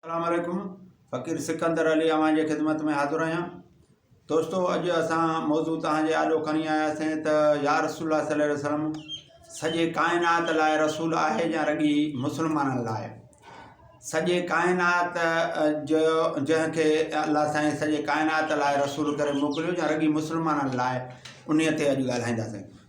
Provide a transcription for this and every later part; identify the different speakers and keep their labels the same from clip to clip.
Speaker 1: اسلام عليڪم فقير سڪندر علي اوهان جي خدمت ۾ حاضر آهيان دوستو اڄ اسان موضوع توهان جي آڏو کڻي آيا سين ته يا رسول الله صلي الله عليه وسلم سڄي ڪائنات لاء رسول آهي يا رڳي مسلمانن لاء سڄي ڪائنات جو جنهن کي الله سائين سڄي ڪائنات لاء رسول ڪري موڪليو يا رڳي مسلمانن لاء انهيء تي اڄ ڳالهائينداسين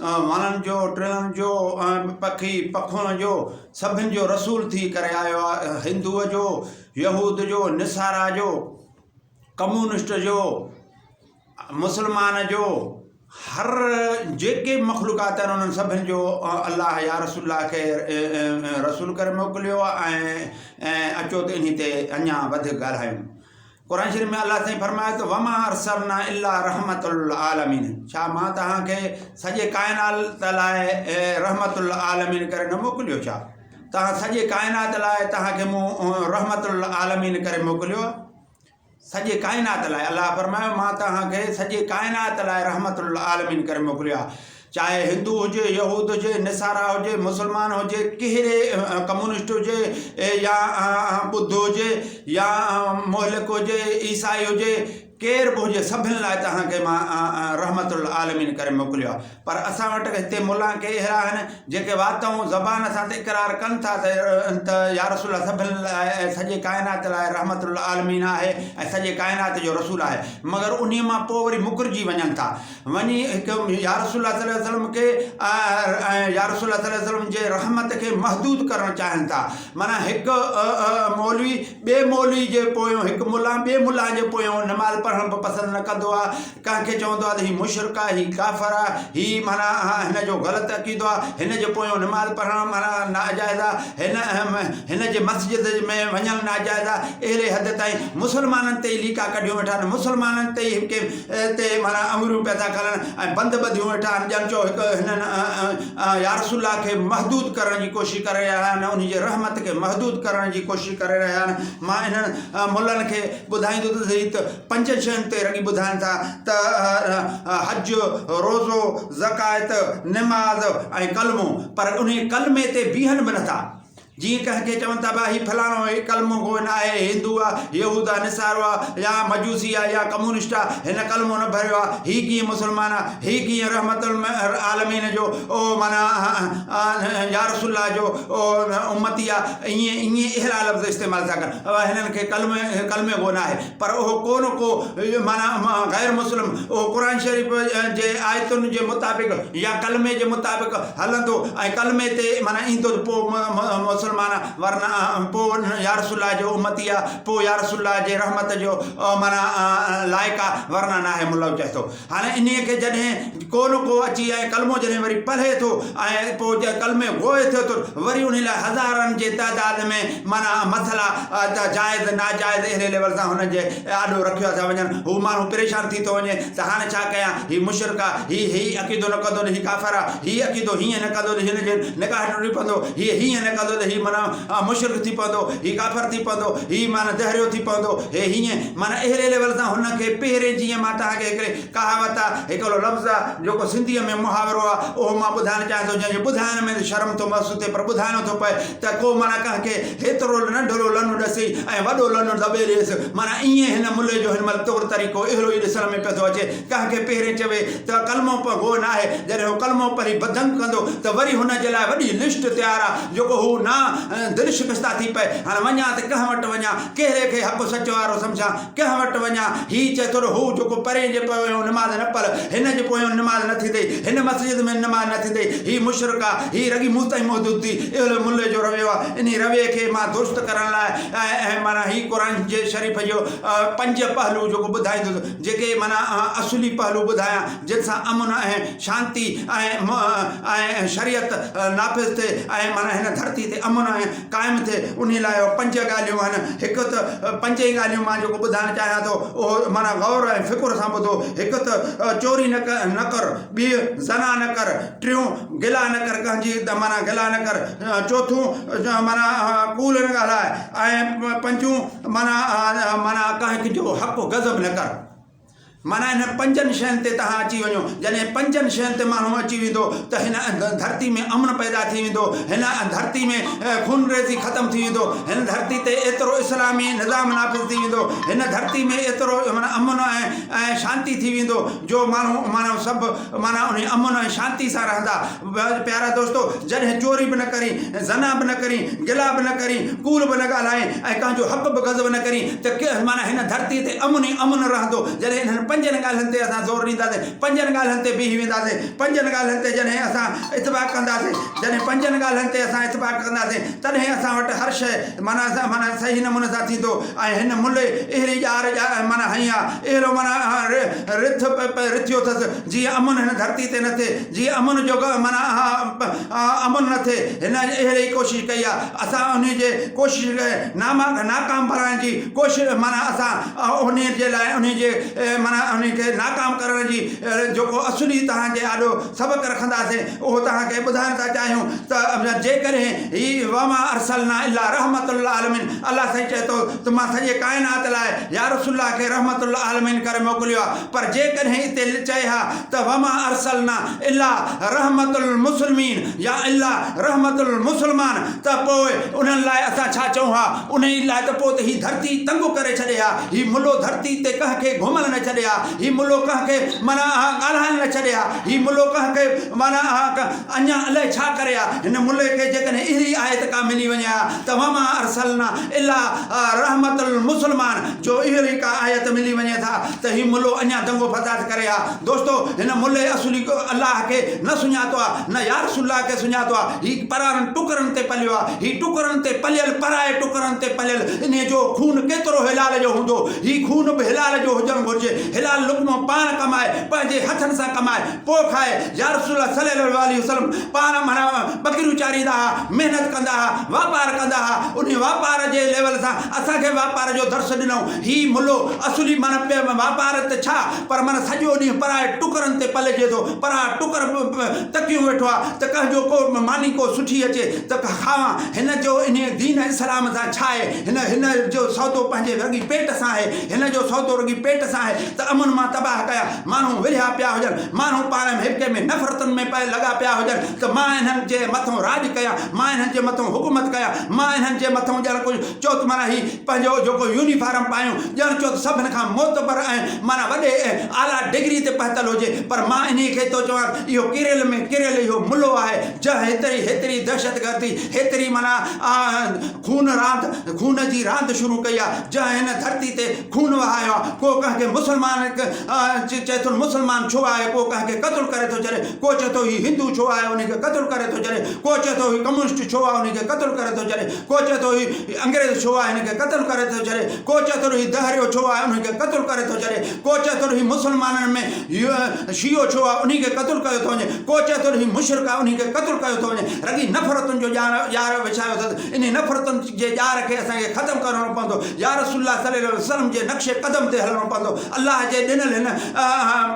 Speaker 1: وڻن جو، ٽڻن جو ۽ پکي پکوڻ جو سڀن جو رسول ٿي ڪري آيو آهي. هندوء جو، يهود جو، نصارا جو، ڪمونسٽ جو، مسلمان جو، هر جيڪي به مخلوقات آهن انهن سڀن جو الله يا رسول الله کي رسول ڪري موڪليو ۽ اچو ته انهي تي اڃان وڌيڪ ڳالهايون. قرآن شريف ۾ الله سائين فرمايو ته وما ارسلنا الا رحمت العالمين ڇا مان توهان کي سڄي ڪائنات لاء رحمت العالمين ڪري نه موڪليو ڇا توهان سڄي ڪائنات لاء توهان کي مون رحمت العالمين ڪري موڪليو سڄي ڪائنات لاء الله فرمايو مان توهان کي سڄي ڪائنات لاء رحمت العالمين ڪري موڪليو چاهي هندو هجي، يهود هجي، نصارا هجي، مسلمان هجي، ڪهڙي ڪمونسٽ هجي يا ٻڌ هجي يا مهلڪ هجي، عيسائي هجي، ڪير به هجي سڀن لاء توهان کي مان رحمت العالمين ڪري موڪليو آهي پر اسان وٽ هتي ملان ڪي اهڙا آهن جيڪي وات ۽ زبان سان ته اقرار ڪن ٿا ته يا رسول الله سڀن لاء ۽ سڄي ڪائنات لاء رحمت العالمين آهي ۽ سڄي ڪائنات جو رسول آهي مگر انهي مان پوء وري مڪرجي وڃن ٿا وڃي هڪ يا رسول الله صلي وسلم کي ۽ يا رسول الله صلي وسلم جي رحمت کي محدود ڪرڻ چاهين ٿا معنيٰ هڪ مولوي ٻي مولوي جي پويون هڪ ملا ٻي ملا جي پويون نماز پڙهڻ به پسند نه ڪندو آهي ڪنهن کي چوندو آهي ته هي مشرق آهي هي ڪافر آهي هي معنيٰ هن جو غلط عقيدو آهي هن جي پويون نماز پڙهڻ معنيٰ ناجائز آهي هن هن جي مسجد ۾ وڃڻ ناجائز آهي اهڙي حد تائين مسلمانن تي ليڪا ڪڍيون ويٺا آهن مسلمانن تي هڪ تي معنيٰ انڱريون پيدا ڪرڻ ۽ بند ٻڌيون ويٺا آهن ڄڻ چئو هڪ هنن يارسول الله کي محدود ڪرڻ جي ڪوشش ڪري رهيا آهن انهي جي رحمت کي محدود ڪرڻ جي ڪوشش ڪري رهيا آهن مان انهن ملن کي ٻڌائيندو ته سهي ته پنج شين تي رڳي ٻڌائن ٿا ته حج روزو زڪائت نماز ۽ ڪلمو پر انهي ڪلمي تي بيهن به نٿا جيئن ڪنهن کي چون ٿا ڀاء هي فلاڻو آهي، ڪلمو ڪوئي نه آهي، هندو آ، يهود آ، نصارو آ يا مجوسي آ يا ڪمونسٽ آ، هن ڪلمو نه ڀريو آ، هي ڪيئن مسلمان آ، هي ڪيئن رحمت العالمين جو او معنيٰ يارسول الله جو او امتي آ، ائين ائين اهڙا لفظ استعمال ٿا ڪن، هنن کي ڪلمي ڪلمي ڪو نه آهي. پر اهو ڪو نه ڪو معنيٰ غير مسلم اهو قرآن شريف جي آيتن جي مطابق يا ڪلمي جي مطابق هلندو ۽ ڪلمي تي معنيٰ ايندو ته پوء مسلمان ورنه پوء يا رسول الله جو امتي آهي پوء يا رسول الله جي رحمت جو معنيٰ لائق آهي ورنه ناهي ملوچ هٿو هاڻي انهيء کي جڏهن ڪو نه ڪو اچي ۽ ڪلمو جڏهن وري پڙهي ٿو ۽ پوء ڪلمي گوهه ٿئي ٿو وري انهيء لاء هزارن جي تعداد ۾ معنيٰ مسئلا ته جائز ناجائز اهڙي ليول سان هن جي آڏو رکيا ٿا وڃن هو ماڻهو پريشان ٿي ٿو وڃي ته هاڻي ڇا ڪيان هي مشرڪ آ هي هي عقيدو نه ڪندو ته هي ڪافر آ هي عقيدو هيئن نه ڪندو ته هن جي نڪاح ٽٽي پوندو هي هيئن نه ڪندو ته هي معنيٰ مشرڪ ٿي پوندو هي ڪافر ٿي پوندو هي معنيٰ دهريو ٿي پوندو هي هيئن معنيٰ اهڙي ليول سان هن کي پهرين جيئن مان توهان کي هڪڙي ڪهاوت آ، هڪڙو لفظ آ، جيڪو سنڌيء ۾ محاورو آ، اهو مان ٻڌائڻ چاهيان ٿو، جنهن جو ٻڌائڻ ۾ شرم ٿو محسوس ٿئي پر ٻڌائڻو ٿو پئي ته ڪو معنيٰ ڪنهن کي هيترو ننڍڙو لنو ڏسي ۽ وڏو لنو دٻي ڏيس معنيٰ ايئن هن ملي جو هن مهل طور طريقو اهڙو ئي ڏسڻ ۾ پيو ٿو اچي ڪنهن کي پهرين چوي ته ڪلمو پڙهه گوء ناهي جڏهن هو ڪلمو پڙهي بدنگ ڪندو ته وري هن جي لاء وڏي لسٽ تيار آ جيڪو هو نا دل شڪسته ٿي پئي هاڻ وڃان ته ڪنهن وٽ وڃان ڪهڙي کي حق سچ وارو سمجهان، ڪنهن وٽ وڃان؟ هي چئي ٿو ته هو جيڪو پرين جي پويون نماز نه پڙهي، هن جي پويون نماز نه ٿيندئي، هن مسجد ۾ نماز نه ٿيندئي، هي مشرڪ آ، هي رڳي مون تائين محدود ٿي، اهڙو ملي جو رويو آ، انهي رويي کي مان درست ڪرڻ لاء ۽ معنيٰ هي قرآن شريف جو پنج پهلو جيڪو ٻڌائيندس، جيڪي معنيٰ آئون اصولي پهلو ٻڌايان، جن سان امن ۽ شانتي ۽ شريعت نافذ ٿئي ۽ معنيٰ هن ڌرتي تي امن ۽. قائم ٿئي انهي لاء پنج ڳالهيون آهن هڪ ته پنج ئي ڳالهيون مان جيڪو ٻڌائڻ چاهيان ٿو اهو معنيٰ غور ۽ فڪر سان ٻڌو هڪ ته چوري نه ڪر نه ڪر ٻي زنا نه ڪر ٽيون گلا نه ڪر ڪنهن جي معنيٰ گلا نه ڪر چوٿون معنيٰ ڪوڙ نه ڳالهاء ۽ پنجون معنيٰ معنيٰ ڪنهن جو حق غضب نه ڪر معنيٰ انهن پنجن شين تي توهان اچي وڃو. جڏهن پنجن شين تي ماڻهو اچي ويندو ته هن ڌرتي ۾ امن پيدا ٿي ويندو، هن ڌرتي ۾ خونريزي ختم ٿي ويندو، هن ڌرتي تي ايترو اسلامي نظام نافذ ٿي ويندو، هن ڌرتي ۾ ايترو معنيٰ امن ۽ شانتي ٿي ويندو جو ماڻهو معنيٰ سڀ معنيٰ انهي امن ۽ شانتي سان رهندا. ويل پيارا دوستو! جڏهن چوري به نه ڪرين، زنا به نه ڪرين، گلا به نه ڪرين، ڪوڙ به نه ڳالهائين ۽ ڪنهن جو حق به غضب نه ڪرين ته ڪير معنيٰ هن ڌرتيء تي امن ئي امن رهندو. جڏهن انهن پنجن ڳالهين تي اسان زور ڏينداسين، پنجن ڳالهين تي بيهي وينداسين، پنجن ڳالهين تي جڏهن اسان اتفاق ڪنداسين، جڏهن پنجن ڳالهين تي اسان اتفاق ڪنداسين، تڏهن اسان وٽ هر شيء معنيٰ سان معنيٰ صحيح نموني سان ٿيندو ۽ هن ملي اهڙي ڄار ڄار معنيٰ هنئي آ، اهڙو معنيٰ رٿ رٿيو اٿس، جيئن امن هن ڌرتي تي نه ٿئي، جيئن امن جو معنيٰ اها امن نه ٿئي، هن اهڙي ئي ڪوشش ڪئي آهي، اسان انهيء جي ڪوشش کي ناماڪ ناڪام بڻائڻ جي ڪوشش معنيٰ اسان انهيء جي لاء انهيء جي معنيٰ انهيء کي ناڪام ڪرڻ جي جيڪو اصولي توهان جي آڏو سبق رکنداسين اهو توهان کي ٻڌائڻ ٿا چاهيون ته جيڪڏهن هي وما ارسلنا الا رحمة للعالمين الله سائين چئي ٿو ته مان سڄي ڪائنات لاء يا رسول الله کي رحمة للعالمين ڪري موڪليو آهي پر جيڪڏهن اتي لچائي ها ته وما ارسلنا الا رحمة المسلمين يا الا رحمة المسلمان ته پوء انهن لاء اسان ڇا چئون ها؟ انهيء لاء ته پوء ته هي ڌرتي تنگ ڪري ڇڏي ها، هي ملو ڌرتي تي ڪنهن کي گهمل نه ڇڏي ها، هي ملو ڪنهن کي معنيٰ اها ڳالهائڻ نه ڇڏي ها، هي ملو ڪنهن کي معنيٰ اها اڃا الائي ڇا ڪري ها هن ملئ کي جيڪڏهن اهڙي آيت ڪا ملي وڃي ها ته وما ارسلنا الا رحمة المسلمان جو اهڙي ڪا آيت ملي وڃي ٿا ته هي ملو اڃا دنگو فساد ڪري ها دوستو هن ملئ اصلي الله کي نه سڃاتو ها نه يارسول الله کي سڃاتو ها هي پرارن ٽڪرن تي پليو ها هي ٽڪرن تي پليل پرائي ٽڪرن تي پليل انهي جو خون ڪيترو هلال جو هوندو هي خون به هلال جو هجڻ گهرجي هلال لقمو پاڻ ڪمائي پنهنجي هٿن سان ڪمائي پوء کائي، يا رسول الله صلي الله عليه وسلم پاران مھراء ٻڪريون چاريندا ھئا، محنت ڪندا ھئا، واپار ڪندا ھئا، انھي واپار جي ليول سان اسان کي واپار جو درس ڏنائون، ھي ملو اصولي معنيٰ پئي واپار ته ڇا پر معنيٰ سڄو ڏينھن پرائي ٽڪرن تي پلجي ٿو، پراء ٽڪر تڪيون ويٺو آ ته ڪنھن جو ڪو ماني ڪو سٺي اچي ته کاوان، ھن جو انھي دين اسلام سان ڇا آھي، ھن ھن جو سودو پنھنجي رڳي پيٽ سان آھي، ھن جو سودو رڳي پيٽ سان آھي ته امن مان تباھ ڪيا، ماڻهو ورهيا پيا هجن، ماڻهو پاڻ ۾ هڪ ٻئي ۾ نفرتن ۾ پئي لڳا پيا هجن ته مان انهن جي مٿئون راڄ ڪيان، مان انهن جي مٿئون حڪومت ڪيان، مان انهن جي مٿئون ڄڻ ڪجهه چوت معنيٰ هي پنهنجو جيڪو يونيفارم پايون ڄڻ چوت سڀن کان معتبر ۽ معنيٰ وڏي ۽ اعليٰ ڊگري تي پهتل هجي پر مان انهيء کي ٿو چوان ته اهو ڪيريل ۾ ڪيريل اهو ملو آهي جنهن هيتري هيتري دهشتگردي هيتري معنيٰ خون راند خون جي راند شروع ڪئي آهي جنهن هن ڌرتي تي خون وهايو آهي، ڪو ڪنهن کي مسلمان چئي ٿو مسلمان ڇو آهي، ڪو ڪنهن کي قتل ڪري ٿو چري، ڪو چئي ٿو هي هندو ڇو آهي انهي کي قتل ڪري ٿو چري، ڪو چئي ٿو هي ڪميونسٽ ڇو آهي انهي کي قتل ڪري ٿو چري، ڪو چئي ٿو هي انگريز ڇو آهي هن کي قتل ڪري ٿو چري، ڪو چئي ٿو هي دهريو ڇو آهي انهي کي قتل ڪري ٿو چري، ڪو چئي ٿو هي مسلمانن ۾ شيعو ڇو آهي انهي کي قتل ڪيو ٿو وڃي، ڪو چئي ٿو هي مشرڪ آهي انهي کي قتل ڪيو ٿو وڃي، رڳي نفرتن جو ڄار وڇايو اٿس، انهن نفرتن جي ڄار کي اسان کي ختم ڪرڻو پوندو يا رسول الله صلي الله عليه وسلم جي نقش قدم تي هلڻو پوندو الله جي ڏنل هن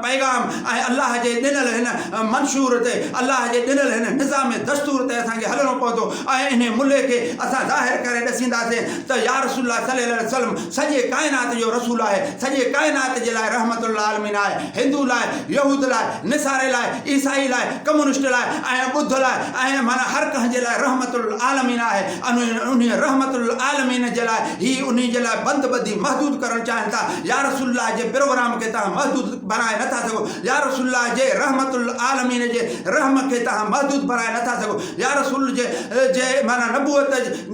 Speaker 1: پيغام ۽ الله جي ڏنل هن منشور تي الله جي ڏنل هن نظام دستور تي اسان کي هلڻو پوندو ۽ انهي ملهي کي اسان ظاهر ڪري ڏسينداسين ته يا رسول الله صلي الله عليه وسلم سڄي ڪائنات جو رسول آهي سڄي ڪائنات جي لاء رحمت للعالمين آهي هندو لاء، يهود لاء، نصاري لاء، عيسائي لاء، ڪمونسٽ لاء ۽ ٻڌ لاء ۽ معنيٰ هر ڪنهن جي لاء رحمت للعالمين آهي ۽ انهيء رحمت للعالمين جي لاء هي انهي جي لاء بند ٻڌي محدود ڪرڻ چاهين ٿا يا رسول الله جي پروگرام کي توهان محدود بڻائي نٿا سگهو يا رسول الله جي رحمت للعالمين جي رحم کي توهان محدود بڻائي نٿا سگهو يا رسول جي معنيٰ نبوت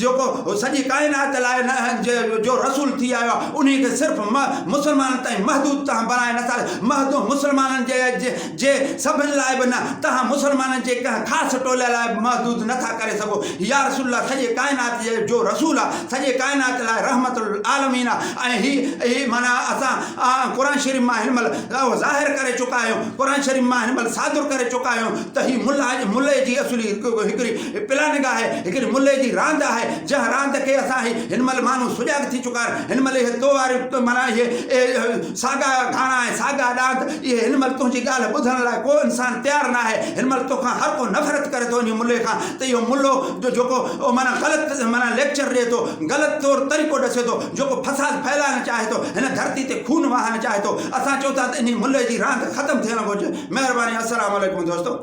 Speaker 1: جيڪو سڄي ڪائنات لاء نه جو رسول ٿي آيو آهي انهي کي صرف مسلمانن تائين محدود تهان بڻائي نه سگهي محدود مسلمانن جي سڀن لاء به نه تهان مسلمانن جي ڪنهن خاص ٽولي لاء به محدود نه ٿا ڪري سگهو يارسول الله سڄي ڪائنات جو رسول آهي سڄي ڪائنات لاء رحمت للعالمين آهي ۽ هي هي معنيٰ اسان قرآن شريف مان هن مهل اهو ظاهر ڪري چڪا آهيون قرآن شريف مان هن مهل صادر ڪري چڪا آهيون ته هي ملئي جي اصلي هڪڙي هي پلاننگ آهي، هڪڙي ملهي جي راند آهي، جنهن راند کي اسان هي هن مهل ماڻهو سجاڳ ٿي چڪا آهن، هن مهل اهي تو واريون معنيٰ اهي اهي ساڳا گهاڻا ۽ ساڳا ڏاند، اهي هن مهل تنهنجي ڳالهه ٻڌڻ لاء ڪو انسان تيار ناهي، هن مهل تو کان هر ڪو نفرت ڪري ٿو انهي ملهي کان ته اهو ملهو جو جيڪو معنيٰ غلط معنيٰ ليڪچر ڏئي ٿو، غلط طور طريقو ڏسي ٿو، جيڪو فساد ڦهلائڻ چاهي ٿو، هن ڌرتي تي خون وهائڻ چاهي ٿو، اسان چئون ٿا ته انهي ملهي جي راند ختم ٿيڻ گهرجي، مهرباني السلام عليڪم دوستو.